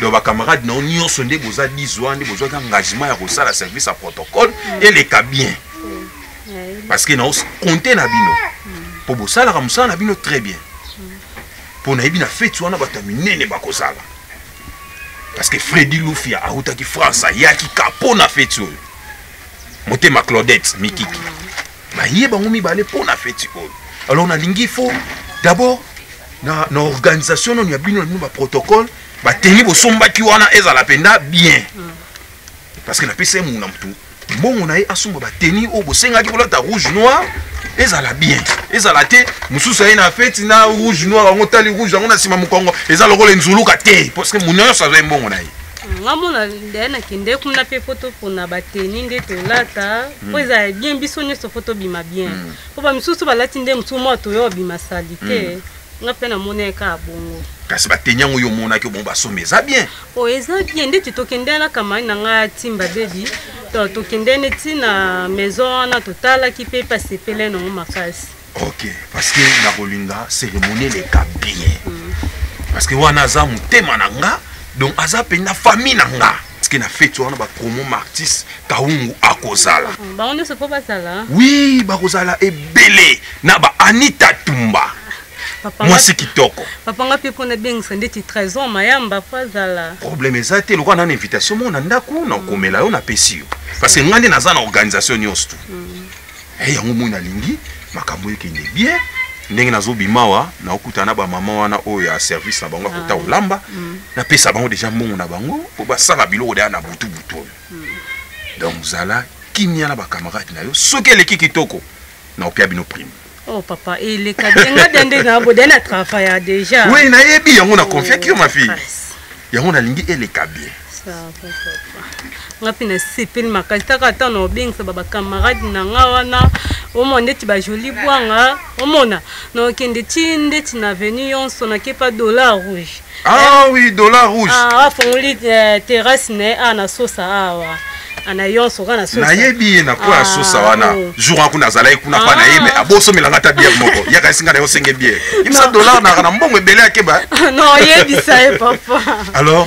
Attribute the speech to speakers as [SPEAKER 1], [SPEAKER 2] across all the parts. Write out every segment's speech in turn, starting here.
[SPEAKER 1] donc bacamarade na
[SPEAKER 2] yo nyonso nde boza 10 wana nde bozwaki engagement ya kosala service ya protocole mm. eleka bien mm. parce que nao compte na bino mpo mm. bosalaka mosala na bino très bien mpo nayebi na feti wana bato ya minene bakozala parce que fredi lufia autaki france ayaki ka mpo na feti oyo motema claudette mikiki naye bango mibale mpo na feti oyo alors nalingi fo d'abord na, na organisation nono ya bino na bino baprotocole bateni bosombaki wana ezala mpenza bien mm. parce que napesi ye muna motu mbongo na ye asomba bateni oyo bosengaki kolata rouge noir ezala bien ezala te mosusu aye na feti na rouge noir yango tali rouge yango na nsima mokongo eza lokola enzuluka te parce que muna nyonso azwa ye mbongo na ye ngamona nde
[SPEAKER 1] nakende kuna mpe mpo topona bateni nde tolata mpo hmm. ezala bien biso nyonso mpo tobima bien hmm. mpo bamisusu balati nde mosusu mwa toyo obima sali te hmm. nga mpe namoni ye kaka bongo kasi bateni yango yo
[SPEAKER 2] omonaki bongo basomba eza bien o oh, eza bien
[SPEAKER 1] ndeti tokendela na kamani na nga timba bebi tokendeni ntina maison wana totalaki mpe pasepele nango makasi ok parce
[SPEAKER 2] que nakolinga cérémonie eleka bien mm. parce que wana aza motema na nga donc aza mpenza famille na nga parceke na feti wana bapromo martis kaungu akozala mm, bango nyonso mpo
[SPEAKER 1] bazala wi bakozala
[SPEAKER 2] ebele na ba anita tumba mwasi
[SPEAKER 1] kitoko
[SPEAKER 2] papa nga mpe mpo nabengisa
[SPEAKER 1] ndeti trésor mayamba mpo azala problème eza te lokola
[SPEAKER 2] nana invitation mona ndako nakomela yo napesi yo parce que ngai nde naza na organisation nyonso tu mm. Hey, yango moi nalingi makambo ekende bien ndenge nazobima awa naokutana na bamama wana oyo ya service na bango ya kota ah. kolamba mm. napesa bango deja mbongo na bango mpo basala biloko deya na butubutu oyo mm. donc zala kimia na bakamarade na yo soki eleki kitoko naopia bino prime Oh papa,
[SPEAKER 1] il est kadenga dende na bo dena travailler déjà. Oui, na yebi yango na
[SPEAKER 2] confiance yo ma fille. Yango na lingi eleka bien.
[SPEAKER 1] nga mpe nasepeli makasi taka ata na obengisa babacamarade na nga wana omona ndeti bajoli bwanga omona nakende ti ndeti na venu yonso nakepa dollar rouge ah oui dollar
[SPEAKER 2] rouge ah, afongoli eh,
[SPEAKER 1] terrasse na ye a ah, nasosa awa ah, ana yonso kana sosa nayebi ye na kwa ah,
[SPEAKER 2] sosa wana oh. jour wana kuna azalaki kuna pa na ye me ah. abosomela nga ta bière moko yaka esinga na yo senge bière imisa dollar na na mbongo ebele akeba non yebisa
[SPEAKER 1] ye papa alors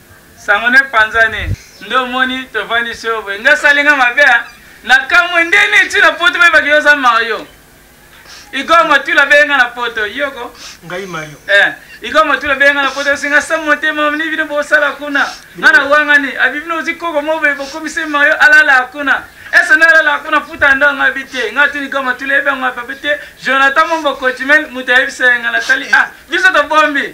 [SPEAKER 3] Sango ne
[SPEAKER 4] panzani nde omoni tovandisi yo boye nga asali nga mabe hein na kamwe nde ne ti na poto bayebaki yo oza mario igor matula abeye nga na poto yoko ngai mario
[SPEAKER 3] eh igor matula
[SPEAKER 4] abeye nga na poto osinga sa motema omoni bino bosala kuna nga na wangani abi bino ozi koko mo boye bokomisi mario alala kuna ese na alala kuna futa ndo nga bi te nga tuni igor matula eyebi yango apape te jonathan mombokochimel moto ayebisa ye nga natali ah biso tobombi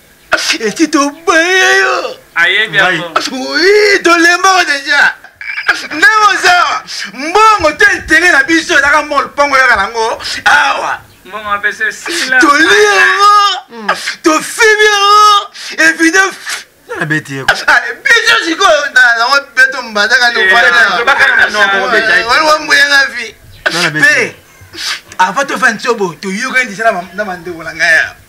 [SPEAKER 5] esi toboye yo ayebi tolembaka deja ndenge oza mbongo te ntere na biso ezaka mol mpongo yaka nango awa
[SPEAKER 4] tolie
[SPEAKER 5] yango
[SPEAKER 4] hmm.
[SPEAKER 5] tofimi yango evide abeti ye ah, biso sikoyo nango beto mbadaka nobakanaombuyanga eh, vi mpe avant tofandi sobo toyokani disala na bandeko na ngai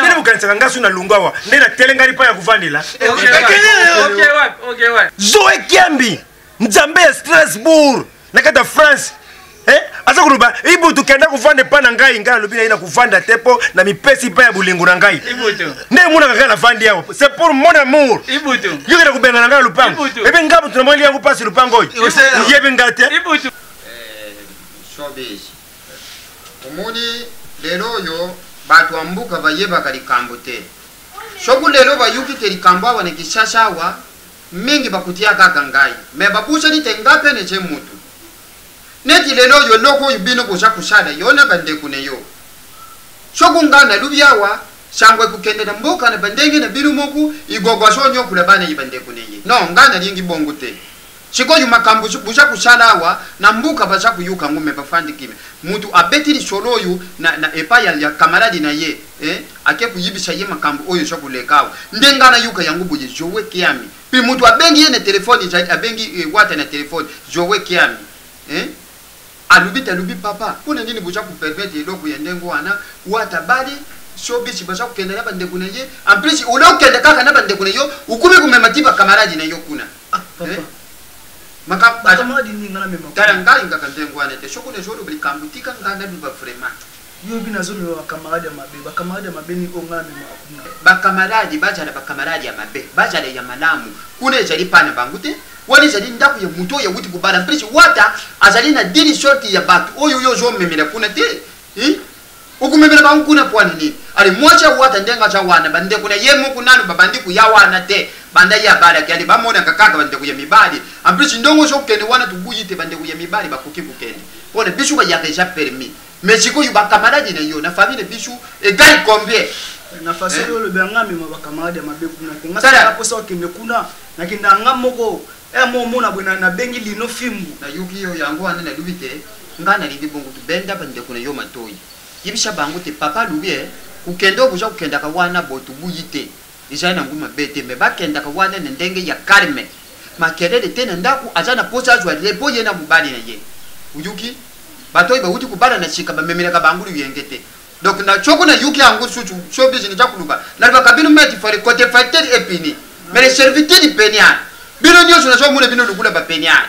[SPEAKER 6] ndenge bokanisaka ngai so na lungu awa nde natelengani mpa ya kovandela zoe kiambi nzambe ya strasbourg na kati ya france eh, aza koloba ibu tokenda kovanda epa na ngai ngai alobi na ye na kovanda te mpo na mipesi mpa ya bolingo na ngai nde emonaka kaka navandi awa se pour mon amour yokenda kobenga na ngai lopango ebe ngai moto namoni yango mpasi lopango oyo oyebi ngai te Showbiz.
[SPEAKER 7] Omoni lelo oyo batu ya mboka bayebaka likambo te. Soki lelo bayoki te likambo awa na Kinshasa awa, mingi bakotia kaka ngai. Mais babosani te ngai pe naza mutu. Neti lelo oyo eloko oyo bino boza kosala yo na bandeko na yo. Soki ngai nalobi awa, sango ekokende na mboka na bandenge na bino moko, Igogo azoniokola bana ya bandeko na ye. Non, ngai nalingi bongo te. Sikoyo makambo boza kosala awa na mboka baza koyoka yango mais bafandi kimia. Mutu abeti lisolo oyo na na epai ya ya camarade na ye eh ake koyebisa ye makambo oyo eza koleka awa nde nga nayoka yango boye Zoe Kiami puis mutu abengi ye na telephone ezali abengi eh, Wata na telephone Zoe Kiami eh Alobi te alobi papa pona nini boza ko permettre eloko ya ndenge wana wata abali showbiz baza kokende na bandeko na ye en plus ole okende kaka na bandeko na yo okomi komema ti ba camarade na yo kuna ah, papa. Eh? makambo
[SPEAKER 5] tala ngai ngaka ndenge
[SPEAKER 7] wana te soki nazoloba likambo tika ngai naluba vraiment Yo bino azo
[SPEAKER 5] mema ba camarade ya mabe ba camarade ya mabe nini oyo nga na memaka kuna. Ba camarade bajala
[SPEAKER 7] ba camarade ya mabe bajala ya malamu kuna ezali pa na bango te wana ezali ndaku ya mutu oyo awuti kobala mpesi wata azali na dini sorti ya batu oyo yo ozo memela kuna te hi okomemela bango kuna pwana nini ale mwasi ya wata ndenge aza wana ba ndeko na ye moko nanu babandi koya wana te banda ye abalaki ale bamonaka kaka ba ndeko ya mibali mpesi ndongo ozo kende wana tobuyi te ba ndeko ya mibali bakoki kokende pona biso bayaka eza permis mais sikoyo bakamaradi na yo na famille na biso egai combien na façon eh? oyo
[SPEAKER 5] olobi yanga amema bakamaradi ya mabe kuna te ngasala mposa okende kuna nakenda yanga moko ere eh, mo omona boye nabengi lino fimbu nayoki yo yango
[SPEAKER 7] wana nalobi te ngai nalingi bongo tobenda bandeko na yo matoi yebisa bango te papa alobi e eh, kokende oyo boza kokendaka wana botubuyi te Eza nango mabe te mais bakendaka wana na ndenge ya calme makelele te na ndaku aza na posa azua repos ye na mobali na ye oyoki batu oyo bawuti kobalana sika bamemelaka bango loyenge te donc na soki na yoki yango susu showbiz naza koloba nalobaka bino meti fale cote facteur epini mais le serviteur peniar bino nionso nazo mona bino lokola ba peniar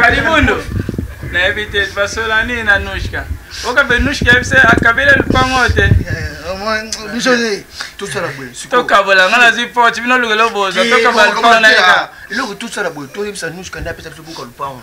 [SPEAKER 4] kalibundo nayebi te basola nini na nushka oka mpe nushka yebi se akabela lupango te
[SPEAKER 5] tokabola nga nazwi
[SPEAKER 4] pote bino olukela oboza tokabala lupango na yeka eloko tosala boye
[SPEAKER 5] toyebisa nushka nde apesa biso buka lupango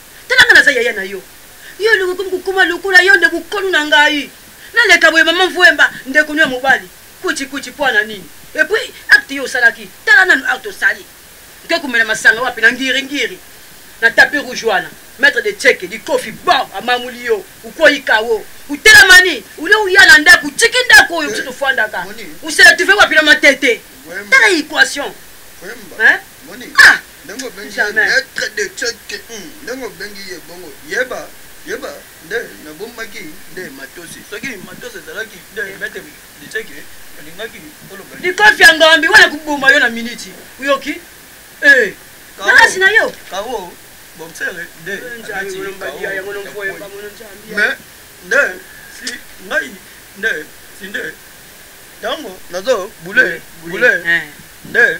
[SPEAKER 8] Tala nga naza yaya na yo. Yo elingi okomi kokoma lokola yo nde bukolu na ngai. Naleka boye maman Vuemba ndeko no ya mobali. Kuiti kuiti po na nini? Et puis acte yo osalaki tala nanu acte osali. Oke komela masanga wapi na ngiri ngiri. Na tapis rouge wana maitre de tsheke likofi bam amamuli yo ukweyi kawo. Utelamani olie oya na ndaku otiki ndaku oyo biso tofandaka. Osela tuve wapi na matete. Tala equation. Hein? Ah!
[SPEAKER 5] ndenge obengi ye maitre de ceke hmm, ndenge obengi ye bongo yeba yeba nde nabombaki nde matosi soki matosi ezalaki nde maitre de ceke olingaki oloba likofi ya ngambi
[SPEAKER 8] wana koboma yo na miniti oyoki eh, naasi na yo kawo
[SPEAKER 5] boxere nde abeti
[SPEAKER 8] mais nde
[SPEAKER 5] si ngai nde si nde ntango nazo bule bule eh. nde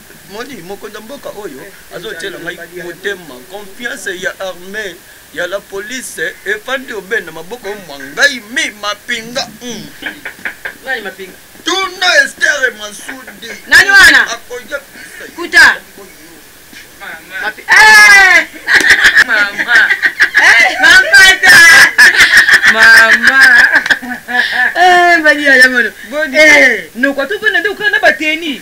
[SPEAKER 5] Moni mokonzi ya mboka oyo azo tiela ngai motema confiance ya armee ya la police efandi obe na maboko mwa ngai mi mapinga mm. nani
[SPEAKER 8] mapinga tuna estere
[SPEAKER 5] masudi nani wana
[SPEAKER 8] akoyebisa
[SPEAKER 5] kuta
[SPEAKER 8] eh! mama eh, mampata mama eh, bani ya yamono noko atopona nde okana na bateni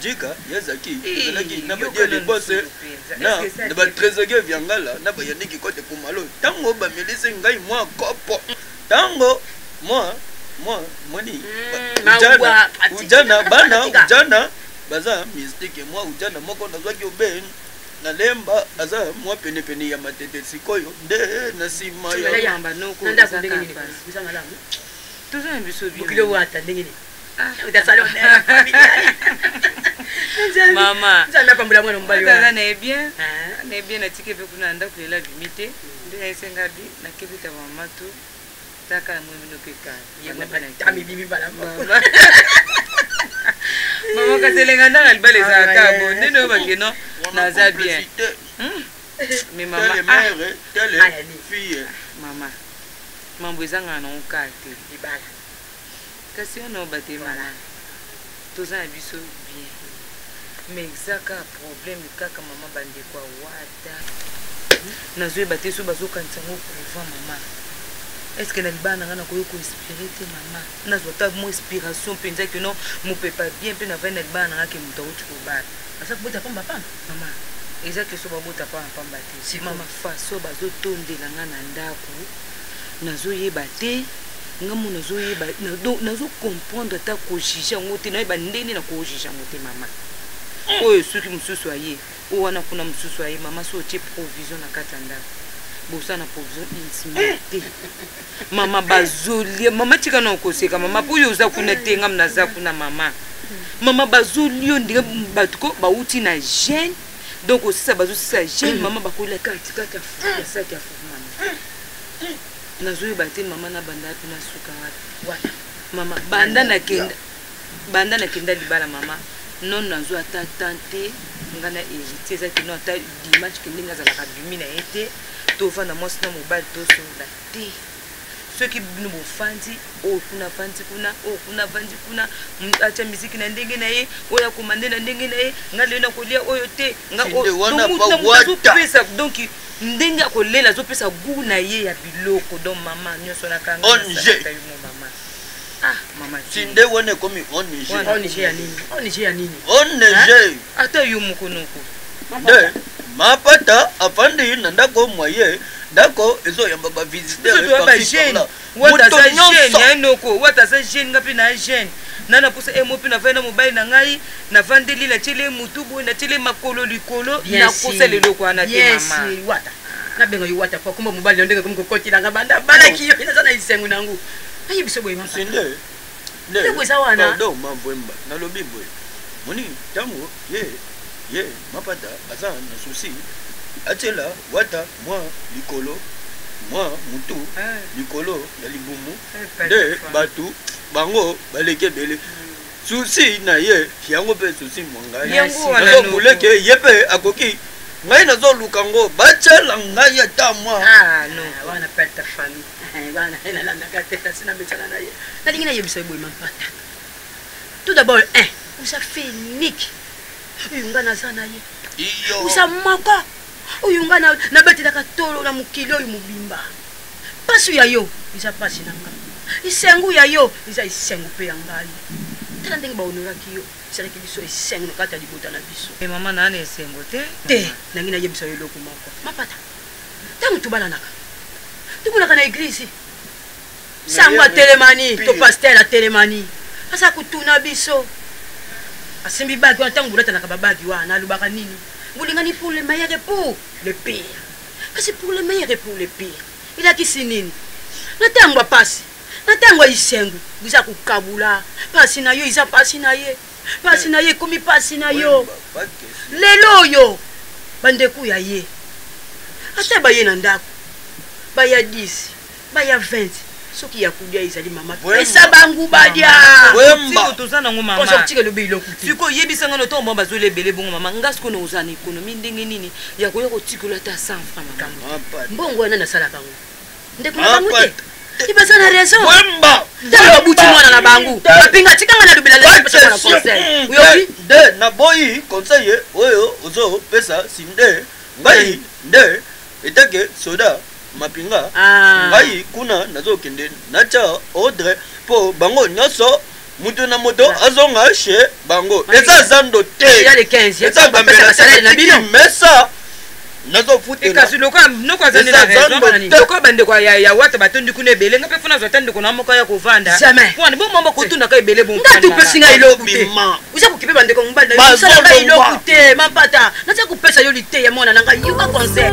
[SPEAKER 5] Djika ya Zaki ezalaki na ba diele bosse na na ba trezoge vya ngala na ba yaniki kote kumalo tango ba melise ngai mwa kopo tango mwa mwa mwani hmm, ujana ujana bana ujana baza mystique mwa ujana moko nazwaki obe na lemba aza mwa penepene ya matete sikoyo nde na nsima ya
[SPEAKER 8] mama nzambe apambola mwana mobali wana na ye bien ah.
[SPEAKER 9] na ye bien natiki mpe kuna na ndako lela abimi te nde nayesenga bi nakebi ta mama to taka na moyemi nokeka amibimi
[SPEAKER 8] bala
[SPEAKER 9] mama kasi elenga ndanga ah, libala ezalaka bo nde noyo bake no naza bien hmm? mais mama ah.
[SPEAKER 5] eh. mama
[SPEAKER 9] mambo ezangana nango kaka te libala Kasi on a bate malade. Toza na biso bien. Mais eza ka problème kaka maman bande kwa wata. Nazo yeba te so bazo kanisa ngo kuva maman. Est-ce que na libana na nga na koyo ko inspirer te maman. Nazo ta mo inspiration penza que non mo peut pas bien pe na vani na libana na nga ke muta uti ko bala. Asa ko bota pamba
[SPEAKER 8] pamba. Maman.
[SPEAKER 9] Eza que so ba bota pamba pamba te. Sima ma façon bazo tondela nga na ndaku nazo yeba te nga mo nazo yeba donc nazo comprendre ata ko juger yango te nayeba ndenge na ko juger yango te mama oyo soki mosusu aye oyo wana kuna mosusu aye mama so otie provision na kati ya ndako bosa na provision insima eh. te mama bazolia mama tika na okoseka mama mpo oyo oza kuna te ngam naza kuna mama mama bazolio ndenge bato ko bauti na gene donc osisa bazosisa jeune mama bakolela kati kati asaki afumama nazoyeba te mama nabanda wapi nasuka wapi wana mama banda nakenda banda nakenda libala mama non nazwa ata tan te nga na hérité eza kino ata dimanche ke ndenge azalaka bimi na ye te tovanda mwasi na mobali tosolola te soki bino bofandi oyo oh, kuna afandi kuna oyo oh, kuna afandi kuna atya miziki na ndenge na ye oyo akoma nde na ndenge na ye nga lelo nakolia oyo te ngaazopesa donc ndenge akolela azopesa gou na ye ya biloko donc mama nyonso nakanga mama Ah, mama tinde wana ekomi
[SPEAKER 5] ong ong ya nini
[SPEAKER 8] ong ya nini ong
[SPEAKER 5] ata yo moko
[SPEAKER 9] noko de
[SPEAKER 5] mapata afandi na ndako mwa ye ndako ezoyamba bavisiteurbajeune
[SPEAKER 9] wata aza jeune ya noko wata aza jeune nga mpe na jeune na na mposa emo mpe nafandi na mobali na ngai nafandeli natiele motu boye natiele makolo likolo nakosala eloko wana te mama
[SPEAKER 8] nabenga yo wata po akomba mobali na ndenge komi kokotila nga banda abalaki yo naza na esengo na yango Aye biso boye mama. Sinde.
[SPEAKER 5] Nde ko eza
[SPEAKER 8] wana. Pardon mamvwemba.
[SPEAKER 5] Nalobi boye. Moni tango ye ye mapata aza na souci atiela wata mwa likolo mwa mutu eh. likolo ya libumu eh, nde bato bango baleki ebele hmm. souci na ye yango mpe souci mwa ngai azomuleke ye mpe akoki ngai nazoluka ngo batyela ngai ata mwa
[SPEAKER 8] ah, Eh, bana ye eh, nalandaka te kasi namesana na ye nalingi nayebisa ye boye mampata tout d'abord un eh, oza fenike oyo nga naza na ye oza moko oyo nga nabatelaka tolo na mokili oyo mobimba mpasi ya yo eza mpasi na nga esengo ya yo eza esengo mpe ya ngai tala ndenge bahonoraki yo esalaki biso esengo na kati ya libota na biso mama naana esengo
[SPEAKER 9] te te nangi
[SPEAKER 8] nayebisa yo eloko moko mapata Tango tobalanaka, tomonaka na eglise sango atelemani to pasteur atelemani aza kotuna biso asimbi bagi wana ntango bolatanaka babagi wana alobaka nini bolingani pour le meilleur et pour le pire kasi pour le meilleur et pour le pire elakisi nini na ntango ya mpasi na ntango ya isengo boza kokabula mpasi na yo eza mpasi na ye mpasi na ye ekomi mpasi na yo lelo oyo bandeko ya ye ata baye na ndako baya 10 baya 20 soki ya kulia ezali mama pesa bangu balia toza
[SPEAKER 9] nango mamaotika elobi eloko siko
[SPEAKER 8] oyebisa ngai notongo bango
[SPEAKER 9] bazweli ebele bongo mama nga siko na oza na ekonomi ndenge nini ya koya kotikolo ata 100 franc mbongo wana nasalaka
[SPEAKER 8] yango ndeko na bango te ibaza na raison wemba tala
[SPEAKER 5] babuti mwana
[SPEAKER 8] na bango bapinga tikanga na lobela lelo pesa mwana conseil oyoki de na boyi
[SPEAKER 5] conseil oyo ozo pesa sinde ngai nde etake soda mapinga ah. ngai kuna nazokende natya ordre mpo bango nyonso moto na moto azonga chez bango eza zando teeza
[SPEAKER 8] bambelasalele
[SPEAKER 5] na bino mesa nazofutelokazilokazaniloko
[SPEAKER 9] bandeko ya wata batondi kuna ebele nga mpe mpo nazwa ta ndeko na moko ya kovanda pwana bomama kotunaka ebele bonga topesi ngai eloko te
[SPEAKER 8] oza kokipe bandeko mobali nayosalaka eloko te mapata naza kopesa yo lite ya mwana na
[SPEAKER 10] ngai yoka conseil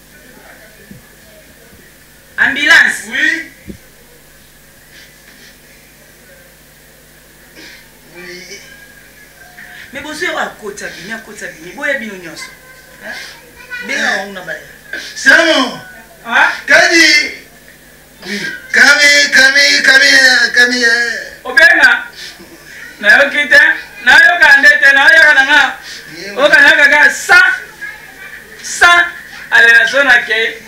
[SPEAKER 9] Ambulance. Oui. Mais bozo ya akota bini akota bini boya bino nyonso benga wango na baya. Samo.
[SPEAKER 5] Ah?
[SPEAKER 4] Kadi.
[SPEAKER 5] Kami, kami, kami, kami, eh. Obenga.
[SPEAKER 4] Nayoki te. Nayoka nde te. Nayoka na nga. Oka na kaka sa. Sa. Ale na so na ke.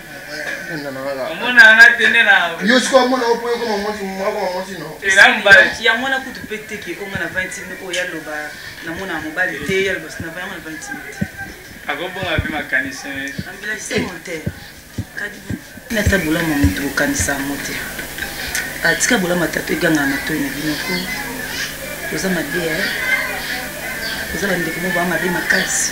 [SPEAKER 5] yango
[SPEAKER 4] wana kutu mpe
[SPEAKER 9] teke onga na 20 mil oyo yaloba namona mobali te yaloba sinava yango na 20 mil te akobonga
[SPEAKER 4] mpe makanisi ambilakisi
[SPEAKER 9] montere kadibu nata bolama moto bokanisa yango te atika bolama tato egangaka matoi na bino ko oza mabe oza bandeko mo baa mabe makasi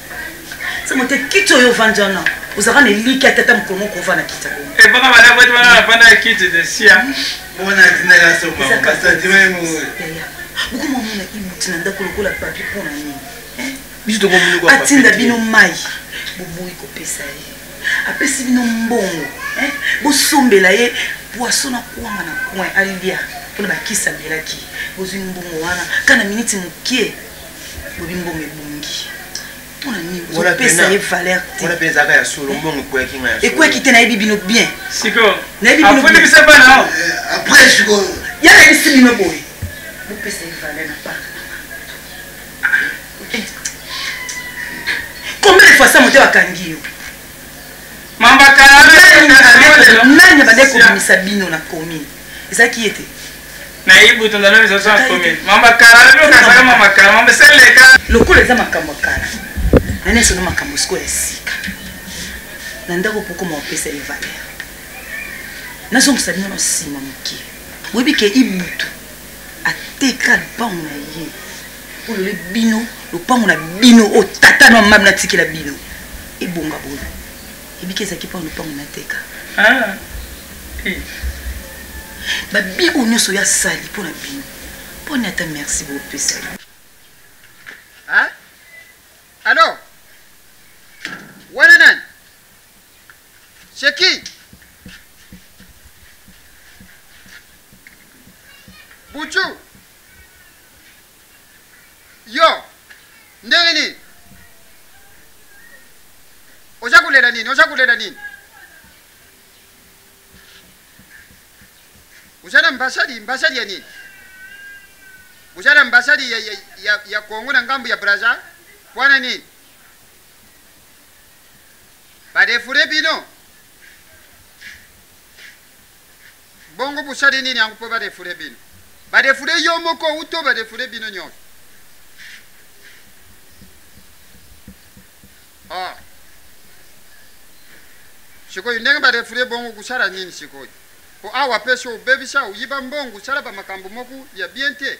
[SPEAKER 9] sema te kiti oyo ovandi wana ozalaka na eliki ya tata mokolo moko ovanda kiti ebaka eh, balaboti wana
[SPEAKER 4] nafanda ya kiti de sia bona atindaka
[SPEAKER 5] sokabokomamona
[SPEAKER 9] ibuti na ndako lokola papi mpo na nini eh?
[SPEAKER 5] atinda bino mai
[SPEAKER 9] boboyi kopesa ye apesi bino mbongo eh? bosombela ye poiso na kwanga na coin alia mpona bakisi amelaki bozwi mbongo wana kana miniti mokie lobi mbongo ebongi mpona nini opesa ye valeur
[SPEAKER 6] teekweki te nayebi bino bien
[SPEAKER 9] nayebi
[SPEAKER 4] bino ya nayebisi
[SPEAKER 9] bino boye
[SPEAKER 4] bopesa
[SPEAKER 5] ye valeur na
[SPEAKER 9] park combien de fois sa moto bakangi yo
[SPEAKER 4] nani abandaki
[SPEAKER 9] kobimisa bino na commune ezalaki ye te
[SPEAKER 4] lokola eza makambo ya
[SPEAKER 9] kala na nyonso na makambo sikoyo ya sika na ndako pokoma opesa ye valeur nazongisa bino na nsima moke boyebi ke ibutu ateka lupango na ye olole bino lopango na bino oyo tata na mama natikela bino ebonga boye ebiki ezalaki mpo na lopango nateka ah, eh. babiko nyonso oyo asali mpo na bino mpo na ata merci bopesa
[SPEAKER 7] alo wana nani seki bucu Yo ndenge nini oza kolela nini oza kolela nini oza na mbasadi mbasadi ya nini oza na mbasadi ya, ya, ya, ya kongo na ngambo ya braza wana nini badefure bino Bongo bosali nini yango mpo badefule bino? Badefule yo moko uto badefule bino nyonso. Ah. Sikoyo ndenge badefule bongo kusala nini sikoyo? Mpo awa mpe so obebisa oyiba mbongo osala bamakambo moko ya bien te.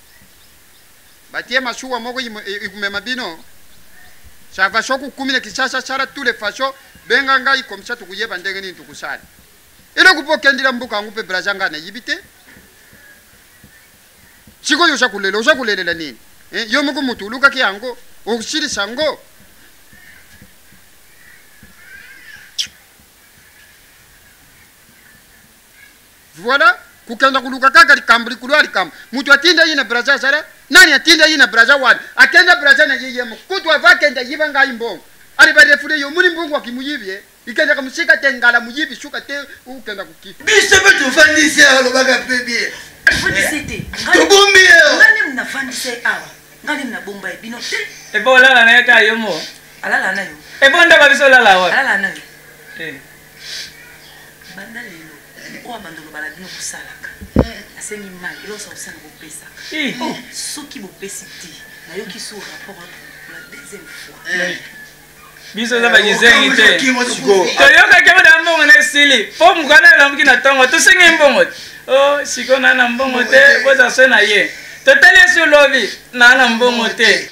[SPEAKER 7] batie masuwa moko ikumema e, bino ça va se kukumina kisasa sala tous les façons benga ngai comme ça tukuyeba ndenge nini tukusala eloko mpo okendila mboka yango mpe braza ngai nayibi te sikoyo oza kolela oza kolelela nini eh, yo moko motu olukaki yango okosilisa yango Voilà, kukenda kuluka kaka likambo likolo ya likambo. Moto atinda ye na Brazza azala nani? Atinda ye na Brazza wapi? Akenda Brazza na ye ye moko. Kutu ava akenda yiba ngai mbongo. Ali ba refule yo muni mbongo akimuyibi ye. Ikendaka musika te ngala muyibi suka te ukenda kuki. Biso pe tofandi
[SPEAKER 5] se alobaka pe bien. Tofandi se
[SPEAKER 8] te. Tobombi ye.
[SPEAKER 5] Ngai nemu na fandi
[SPEAKER 8] se awa. Ngai nemu na bomba ye bino te. Ebo olala na ye ka
[SPEAKER 4] yo mo. Alala na
[SPEAKER 8] yo. Ebo ndaba biso olala
[SPEAKER 4] wapi? Alala na yo.
[SPEAKER 8] Eh. banda lelo oyo abanda oloba na bino kosalaka asengi mai eloko sa kosala kopesa soki bopesi te nayoki su rapport la deuxième fois
[SPEAKER 4] biso oza bakizengi te toyokaki oda mbongo na esili mpo mokana elamuki na ntongo tosengi mbongo te o siko naa na mbongo te boza so na ye totali esi olobi naa na mbongo te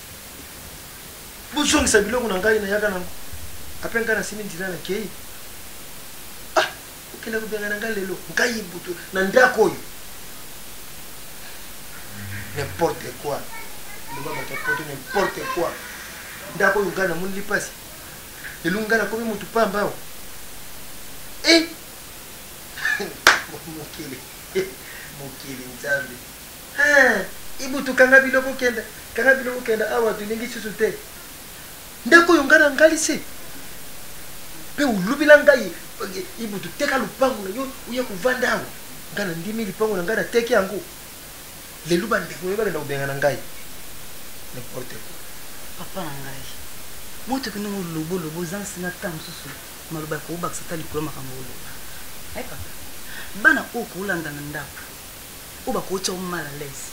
[SPEAKER 6] bozongisa biloko na ngai nayaka nango apre ngai nasimbi nzela na kei ah, okenda kobenga na ngai lelo ngai butu na ndako oyo n'importe quoi loba bato ya poto n'importe quoi ndako oyo ngai namoni lipasi lelo ngai nakomi motu pamba awa e eh! mokili mokili nzambe Eeh ibutu kanga biloko kenda kanga biloko kenda awa tolingi susu te ndako oyo nga na ngalisi mpe olobela ngai ibutu teka lupango na yo oya kovanda awa nga na ndimi lipango na ngai nateki yango lelo bandeko yo bakenda kobenga na ngai n'importe quoi papa na ngai
[SPEAKER 8] moto kende ngo lobo lobo oza nsinga ta mosusu maloba ya kobakisa ta likolo makambo oloba eh, papa bana oyo koolanda na ndako oyo bakootya yo mal à l'aise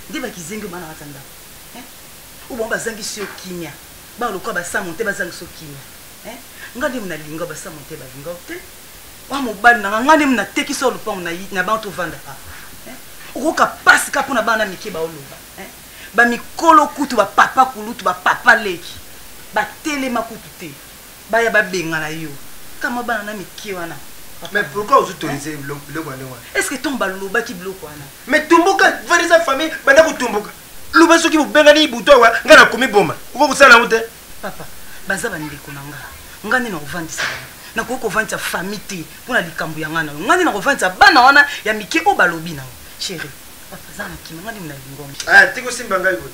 [SPEAKER 8] nde bakizengi obana kati ya ndako oyo bango bazangisi yo kimia bana lokola basamo te bazangisa yo kimia nga nde nalinga basamo te balinga yo te wa mobali nanga nga nde natekisa yo lopango na bango tovandaka okoyoka mpasi ka mpo na bana mike baoloba bamikolo kutu bapapa kulutu bapapa leki batelema kutu te Baya ba bengana yo. Kaka mwa bana na mikie wana. Mais pourquoi vous
[SPEAKER 6] autorisez biloko wana wana? Est-ce que tant balobaki
[SPEAKER 8] biloko wana? Mais tumbuka,
[SPEAKER 6] vanda sa famille, banda kutumbuka. Luba soki bobengani ibuto awa, nga na komi boma. Uko kusala yango te? Papa, baza
[SPEAKER 8] bandeko na nga. Nga nde na kovandisa bango. Na koki kovandisa famille te mpo na likambo ya nga na yo. Nga nde na kovandisa bana wana ya mike oyo balobi na yo. Chérie, papa aza na kima, nga nde na lingongi. Ah, tiko simba ngai boye.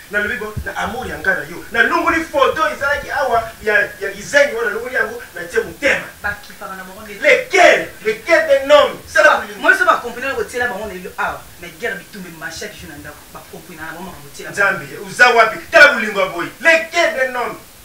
[SPEAKER 6] Nalobi bo na amour ya nga na yo na longoli photo ezalaki awa ya ya kizengi wana longoli yango na tie mutema ba kipaka na bango nde lequel lequel de nom sala ba moi so ba
[SPEAKER 8] comprenant ko tiela bango na lelo awa mais guerre bitumbe ma chaque jour na ndako ba comprenant na bango makambo tiela nzambe uza wapi
[SPEAKER 6] tala bulingo boy lequel de nom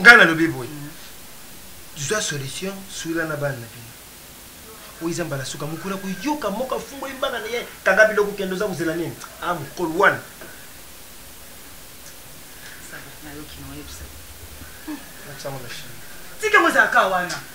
[SPEAKER 6] ngai nalobi boye mm. zwa solution suila na bana na bino oyo eza mbala suka mokolo ya koyoka moko afungoli mbanga na ye kanga biloko kende oza kozela nini a ah, mokolo wana
[SPEAKER 8] tika mozalaka wana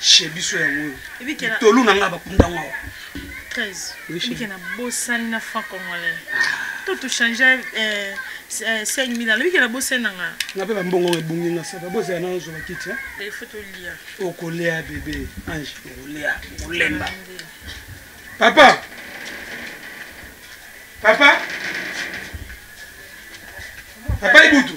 [SPEAKER 3] chez biso yango oyo tolu na ngai bakunda ngo awa
[SPEAKER 11] 13 ebike na bosani na franc congolais to tochange 5000 alobi ke na bosani na nga nga mpe bambongo ngo
[SPEAKER 3] ebungi nga saba bozala nano zoba kiti telefo tolia
[SPEAKER 11] okolea bebe
[SPEAKER 3] ange okolea okolemba papa papa papa ibutu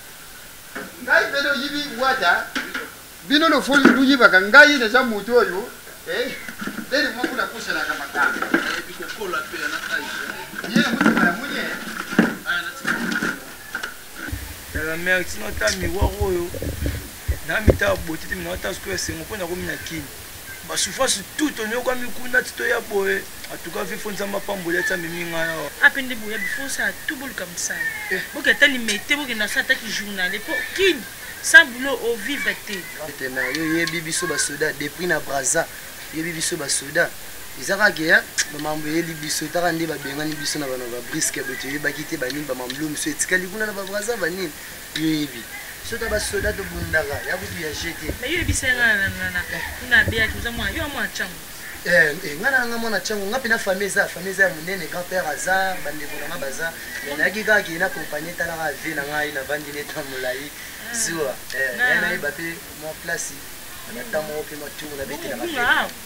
[SPEAKER 7] ngai mpe noyibi wata bino lofoli boyibaka ngai naza moto oyo eh, ndeni mwa kuna
[SPEAKER 3] kosalaka
[SPEAKER 7] makambo ye
[SPEAKER 3] motima ya moni yala mare tina ata miwar oyo na mitala botete mina ata sikoyo esengo mpo nakomi na kini Ba souffrance tout toniokwami kuna ti toya boye en tout cas vie faut nzambe apamboli ati amemi ngai awa. AP nde boya bi faut
[SPEAKER 8] sala tout boluka musala eh. boke ata limete boke na sa ata ki journal et pour kin sans boulot au vivre te. Ete na yo yebi biso
[SPEAKER 12] ba soda depuis na Brazza yebi biso ba soda eza kaka ke ya bamambo eyeli biso etaka nde babengani biso na bana ba briske boye toyebaki te banini bamamlo miso etikali kuna na babrazza banini Toyebi. Biso ta ba soda tobundaka ya kutu ya jeu te. Mais yo yebisa nga na na na
[SPEAKER 8] kuna abeaki oza mwana yo mwana changu. Eh, eh, nga na
[SPEAKER 12] nga mwana changu nga pena famille eza famille eza ya munene grand père aza bandeko na nga baza mais nayaki kaka kee na compagnie etalaka vie na ngai navandi ne temps molai zuwa eh, nayeba mpe mwa place na temps moko mpe mwa tour nabetelaka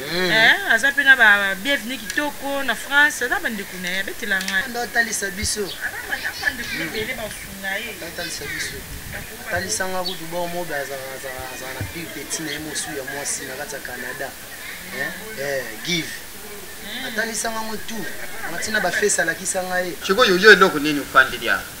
[SPEAKER 8] Eh. Eh, aza mpe na ba bienvenu kitoko na france aza bandeko na ye abetela ngai nda atalisa biso atalisa biso
[SPEAKER 12] atalisanga kutu bao mobe azalaka na pire peti na ye mosu ya mwasi na kati ya canada eh, give hmm. atalisanga ngo tu matina bafesi alakisa ngai sikoyo yo eloko nini
[SPEAKER 7] ofandeli awa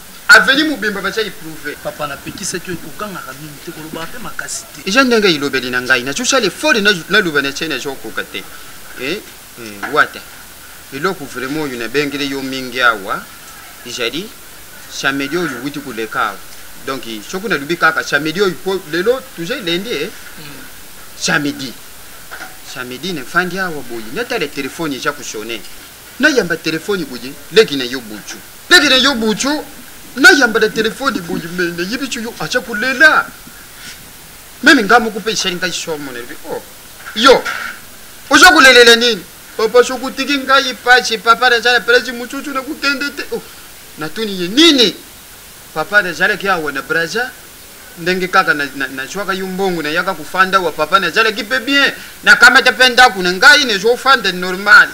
[SPEAKER 7] Avenue mobimba batia eprouve. Papa na pekisaki yo
[SPEAKER 3] kokangaka mingi te kolobaka mpe makasi te. Eza ndenge elobeli na
[SPEAKER 7] ngai nazo sala effort naloba na tie nazo koka te. Eh, eh, wata eloko vraiment oyo nabengeli yo mingi awa ezali samedi oyo owuti koleka awa donc soki nalobi kaka samedi oyo po lelo toza elendi e samedi samedi nefandi awa boye natala telefone eza kosone na yamba telefoni boye leki na yo bucu leki na yo bucu na yamba na telefoni boye me na yebi cu yo aca kolela meme nga moko mpe esali ngai somo na yebi oh yo oza kolelela nini papa soki otiki ngai pasi papa naza na place mosusu na kokende te oh. natuni ye nini papa nazalaki awa na braza ndenge kaka nazwaka yo mbongo nayaka kofanda wa papa nazalaki mpe bien nakamata mpe ndako na ngai nazofanda normal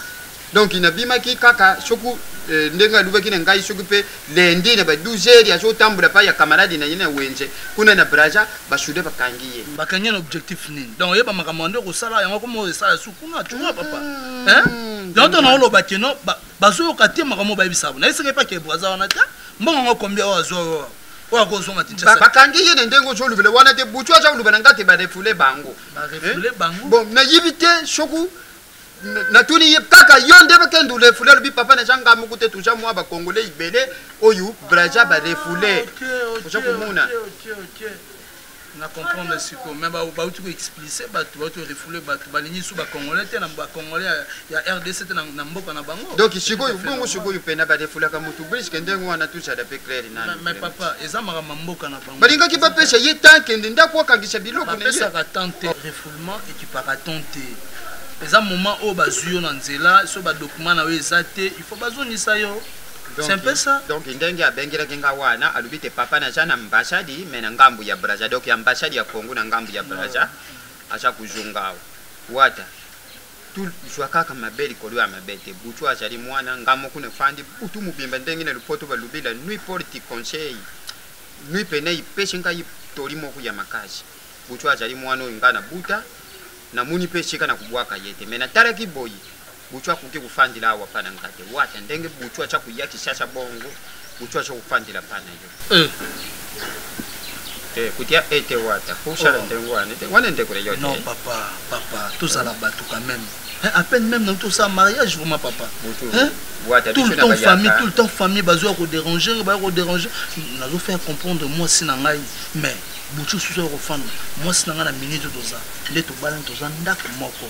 [SPEAKER 7] donc nabimaki kaka soki eh, ndenge alobaki na ngai soki mpe lendi na ba 12 heures azotambola mpa ya camarade na ye na wenze kuna na braza basude bakangi ye bakangi na objectif
[SPEAKER 3] nini donc oyeba makambo yande okosala yango koma oyo esala su kuna tua papa mm. donc to naoloba keno bazoyoka te makambo bayebisa bo nayesaka epa ke braza wana te mbongo yango kombia oyo azwa oyo akozonga kinshasa bakangi ye na ndenge
[SPEAKER 7] ozolobela wana te butu aza koloba na nga te barefule bango bon nayebi te soku natuni ye kaka yo nde bakende olefule alobi papa naza nga moko te toza mwa bakongole ibele oyo braza barefule
[SPEAKER 3] oza
[SPEAKER 7] komona
[SPEAKER 3] na comprendre siko mais bauti ko explice bato bauti ko refoule bato balingi su bacongolais te na bacongolais ya rdc te na mboka na bango donc sikoyo bongo
[SPEAKER 7] sikoyo mpena barefulaka motu briske ndenge wana tozala mpe claire namais papa eza
[SPEAKER 3] makambo mboka na bango balingaki bapesa ye tan
[SPEAKER 7] kende ndako akangisa biloko bapesaka tan te
[SPEAKER 3] refoulement ekipaka tan te eza moment oyo bazwi yo na nzela so badokima na yo eza te il faut bazongisa yo C'est un peu ça. donc ndenge abengelaki
[SPEAKER 7] nga wana alobi te papa naza na ambassade mais na ngambu ya braza donc ya ambassade ya congo na ngambu ya braza aza kozonga awa wata tozwa kaka mabe likolo ya mabe te butu azali mwana nga moko nafandi butu mobimba ndenge na lopoto balobi la nuit porte conseil nuit pene ipesi ngai toli moko ya makasi butu azali mwana oyo ngai nabuta namoni mpe esika na kobwaka ye te me natalaki boye Butshu akoki kofandela awa pa na nga te. Wata ndenge Butshu atsha koya Kishasha bongo Butshu atsha kofandela pa na yo. Eh. Eh, kutia ete wata. Kushala oh. ndenge wana te. Wana ndeko le yo te. Non papa, papa,
[SPEAKER 3] tozala batu quand même. Hein, à peine même dans tout ça mariage vraiment papa. Butshu. Hein?
[SPEAKER 7] tout le temps famille
[SPEAKER 3] tout le temps famille bazo ya koderange bayo koderange nazo faire comprendre mwasi na ngai mais butu susu ya kofanda mwasi na ngai na minute toza nde tobalani toza ndako moko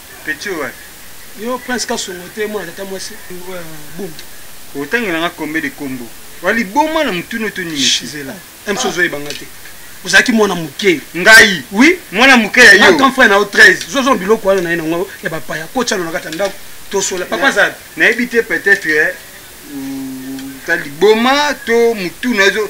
[SPEAKER 13] Petit oyo wapi? Yo Prince
[SPEAKER 14] Kasongo te mwana tata mwasi wa Bundu. Otangela
[SPEAKER 13] nga combien de combo? Wa liboma na mutuna oto nini? Shizela. Même si
[SPEAKER 14] ozoyeba nga te. Ozalaki mwana moke. Ngai? Oui.
[SPEAKER 13] Mwana moke
[SPEAKER 14] ya yo.
[SPEAKER 13] Grand frère na yo 13. Zozo
[SPEAKER 14] biloko wana na ye na ngo ya bapaya. Kocha na kata ndako. Tosola. Papa Zab. Nayebi te peut-être
[SPEAKER 13] eh, ta liboma to mutuna ezo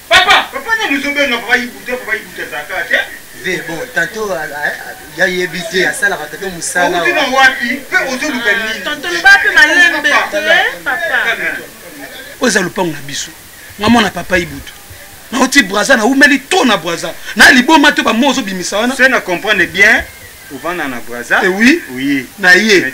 [SPEAKER 14] Papa, papa nani ozobenga
[SPEAKER 13] papa Ibuta, papa Ibuta azalaka te. Ve bon,
[SPEAKER 12] tanto ya yebi te asalaka tanto mosala. Outi na wapi?
[SPEAKER 13] Pe ozoluka nini? Ah, tanto loba pe
[SPEAKER 1] malembe te, papa.
[SPEAKER 14] Oza lopango na biso. Nga mwana papa Ibuta. nauti braza naumeli to na braza na liboma to bamo ozobimisa wana se na comprendre bien
[SPEAKER 13] ovanda na braza eh oui, oui. na
[SPEAKER 14] ye